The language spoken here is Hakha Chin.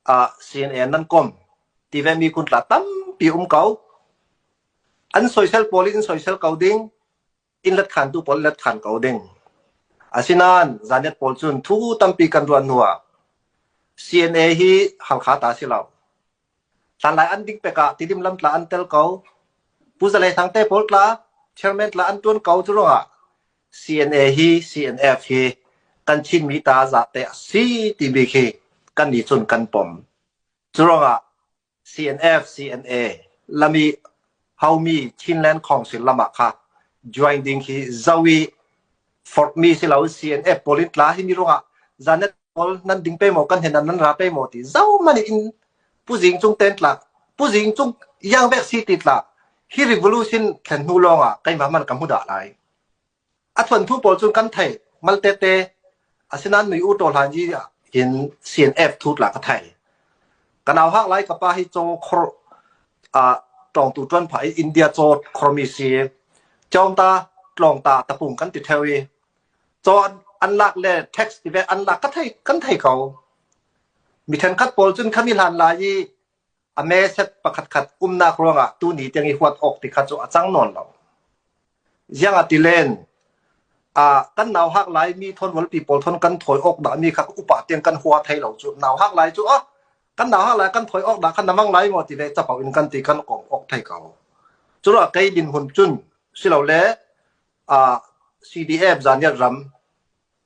Ah CNN nan kom ti ve mi kuntla tampi um ko. An soisel pawl in soisel ko ding, inn let khan tu pawl let khan ko ding. Asinain zanlet pawl cun thu tampi kan ruan hnu ah, CNA hi halkha ta si lo. Tlanglai an ding pek ah Tidim lam tla an tel ko. Pu Zalei Hrangte pawl tla, chairman tla an ṭuan ko. Cu ruangah CNA hi CNF hi kan Chinmi ta zate a si ti bik hi kan nih cun kan pom. Cu ruangah CNF, CNA lam i haumi Chinland Khawng sullam ah kha join ding hi zoh i forhmi si lo CNF police tla hi mi ruangah zanet pawl nan ding pe maw kan hen nan ra pe maw ti zoh man in puzing chung ten tla puzing chung yang bek si ti tla hi revolution thlen hnu lawngah keimah man ka mu da lai a thawnthu pawl cu kan thei mal tete asinain mi u to hlan ji hin CNF thu la ka thai kan au hak lai ka pa hi cho khor a tong tu tuan phai India cho khormi si chong ta tlong ta tapung kan ti thewi cho an lak le tax ti ve an lak ka thei kan thei ko mi then khat pawl cun khami hlan lai i A meset pakhatkhat umnak ruangah tuni tiang i huat awk ti kha cu a cang nawn lo. Ziang ah ti len, uh, kan nau hak lai mi thon walpi pawl thon kan thoi awk dah mi kha upa tiang kan hua thei lo cu. Nau hak lai cu ah kan nau hak lai kan thoi awk dah kan namang lai ngo ti le capo in kan ti kan kom awk thei ko. Cura kei din hun cun silo le uh, CDF zan yat ram